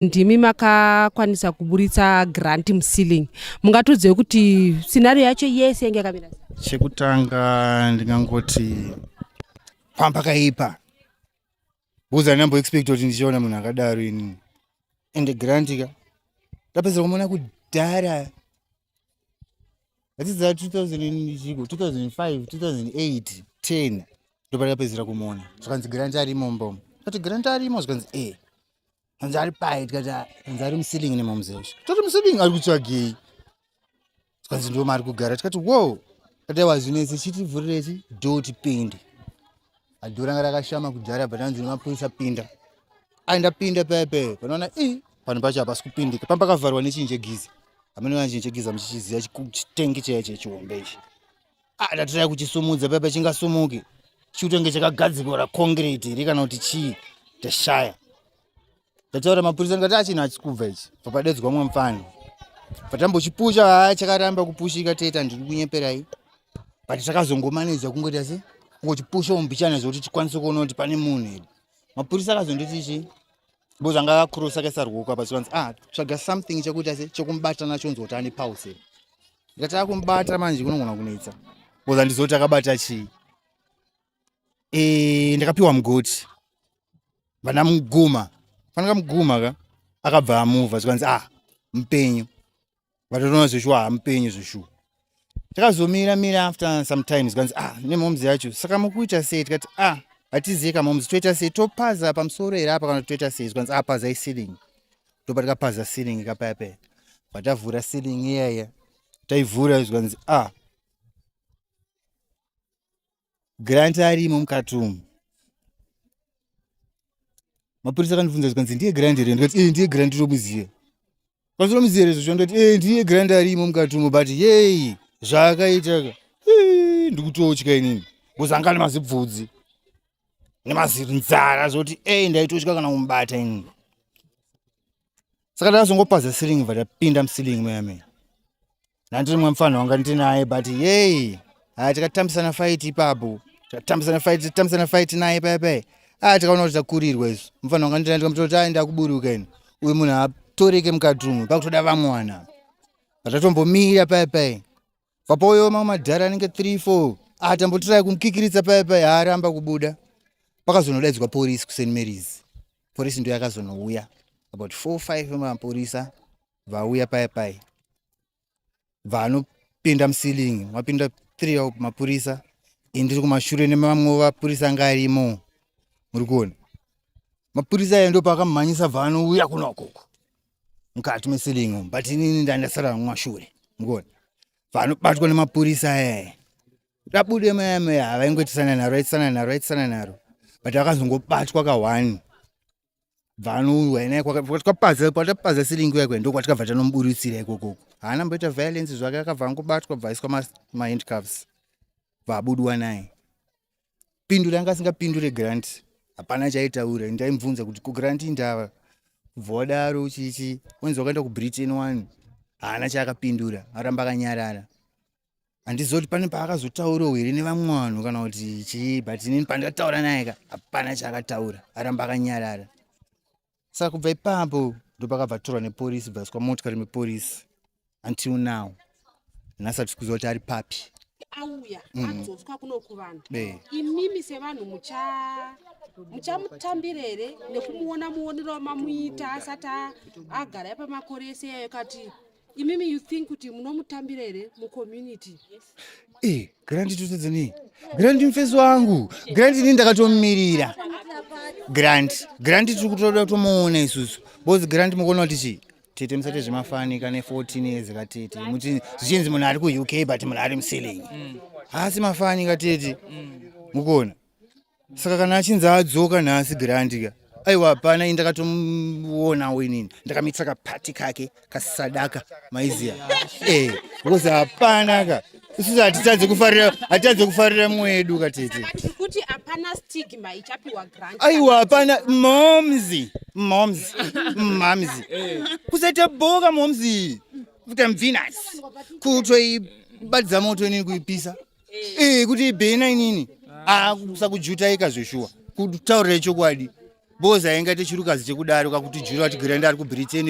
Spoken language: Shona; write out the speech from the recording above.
ndimi makakwanisa kuburitsa grant muceiling mungatiudzewo kuti scenario yacho yese yange yakamira chekutanga ndingangoti pamba kaipa buza ndambo expect kuti ndichiona munhu akadaro ini ende grant ka ndapedzera kumona kudhara atidzaa 2000 2005 2008 10 ndopandapedzera kumona zvikanzi grant arimo mbomo kuti grant arimo zvikanzi e eh. hanzi ari pai tikati hanzi ari musilingi nemamuzesha toti musilingi ari kutsvagei tikanzi ndo maari kugara tikati wo kati wazvinese chitivhurireti do tipinde adho ranga rakashama kudhara but anzi nemapurisa pinda aenda pinda paya paya panoona i panhu pacho hapasi kupindika pamba pakavharwa nechinhu chegiza hamenoa chinhu chegiza muchichiziva chitengi chaiye chechihombe ichi ah, ndatirai kuchisumudza paipa chingasumuki chikutenge chakagadzikora concrete iri kana kuti chii tashaya ndataura mapurisa ndikati achina achikubva ichi papadedzwa mwe mfana patambochipusha haa chakaramba kupushika teta ndiri kunyeperai but takazongomaneja kungoita se kungochipusha ombichana zvekuti tikwanise kuona kuti pane munhu here mapurisa akazonditi chii bo zvanga akakurosa kaisa rwoko apa zvikanzi ah tsvaga something chekuita se chekumubatana chonzwa kuti ane pause Ndataka kumubata manje kunogona kunetsa. Boza ndizoti akabata chii? Eh, ndakapiwa mugoti. Vana muguma. Fanaka muguma ka. Akabva amuva zvikanzi ah mpenyu. Vatoona zveshuwa ah mpenyu zveshuwa. Takazomira mira after some time zvikanzi ah nemomzi yacho. Saka mukuita sei tikati ah hatiziye kamomzi toita sei topaza pamusoro here apa kana toita sei zvikanzi ah pazai ceiling. ndopa tikapaza ceiling kapaya paya patavhura ceiling iyaya taivhura zvikanzi a ah, grant arimo mukati umu mapurisa akandifunza zvikanzi ndiye grant here ndikati ee ndiye grant tomuziva kwanzi tomuziva here zvocho ndikati ee ndiye grant arimo mukati umu but yei zvaakaitaka ndikutotya inini kuzangani mazibvudzi nemazinzara zvoti ei ndaitotya kana kumubata ini saka ndazongopaza silingi bva tapinda musilingi muyamei nandiri mwe mfanha wanga ndinaye but yei haa tikatambisana faiti ipapo tikatambisana faiti titambisana faiti naye paya paya haa tikaona kuti takurirwa isu mfanha wanga ndinaye ndikamutoti ai ndakuburuka ini uyu munhu haatoreke mukati umwe pakutoda vamwana vatatombomira paya paya papoyo mamwe madhara anenge 3 4 atambotirai kumukikiritsa paya paya haaramba kubuda pakazonodaidzwa porisi kuseni maries porisi ndo yakazonouya about 4 5 vemaporisa vauya paya paya vanopinda musilingi wapinda 3 mapurisa indiri kumashure nemamwe vapurisa anga arimo muri kuona mapurisa ayo ndo paakamhanyisa bva anouya kunokoko mukati mesilingi umu but inini ndandasara mumashure mukuona vanobatwa nemapurisa aya rabude mayame havaingoitisana naro aitisana naro aitisana naro but vakazongobatwa kahwani vanouya naye kwatikapaza kwatapaza silingi yakwe ndo kwatikabva tanomuburitsira ikokoko haana mboita violence zvake akabva angobatwa bvaiswa mahandcuffs vabudwa naye pindure anga asingapindure grant hapana chaitaura ndaimubvunza kuti kugrant indava kubva wadaro chichi wanzi wakaenda kubritain one haana chaakapindura aramba akanyarara handizoti pane paakazotaurawo here nevamwe vanhu kana kuti chii but inini pandataura naye ka hapana chaakataura aramba akanyarara saka kubva ipapo ndopakabva torwa neporisi bvaiswa motikari meporisi until now nhasi hatisi kuziva kuti ari papi auya mm. adzoswa kuno kuvanhu imimi sevanhu mucha muchamutambira here nekumuona muonero wamamuita asati agara pamakore ese yayo kati imimi you think kuti munomutambira here mucommunity eh, grandi tutedzeni grandi mfesi wangu grandi ini ndakatomumirira grandi grandi tiri kutoda kutomuona isusu bozi grandi mukuona kuti chii tete musati zvemafanika ne 14 years katete muti zvichinzi munhu ari kuuk but munhu ari museling mm. haasi mafanika tete mm. mukuona saka kana achinzi adzoka nhasi grandi ka aiwa hapana ini ndakatomuonawo inini ndakamitisa kapati kake kasadaka maiziya e eh, because hapana ka isusu hatitadze kufarira hatitadze kufarira mwedu katete kuti hapana stigma ichapiwa grant aiwa hapana momzi momzi mamzi eh. kusaita boka momzi kuita mvinasi kutoibadza moto inini kuipisa eh kuti ibhena inini ah kusakujutaika zveshuwa kutaurira chokwadi boza inga techirukazi chekudaro kakutijura kuti grand ari kubritain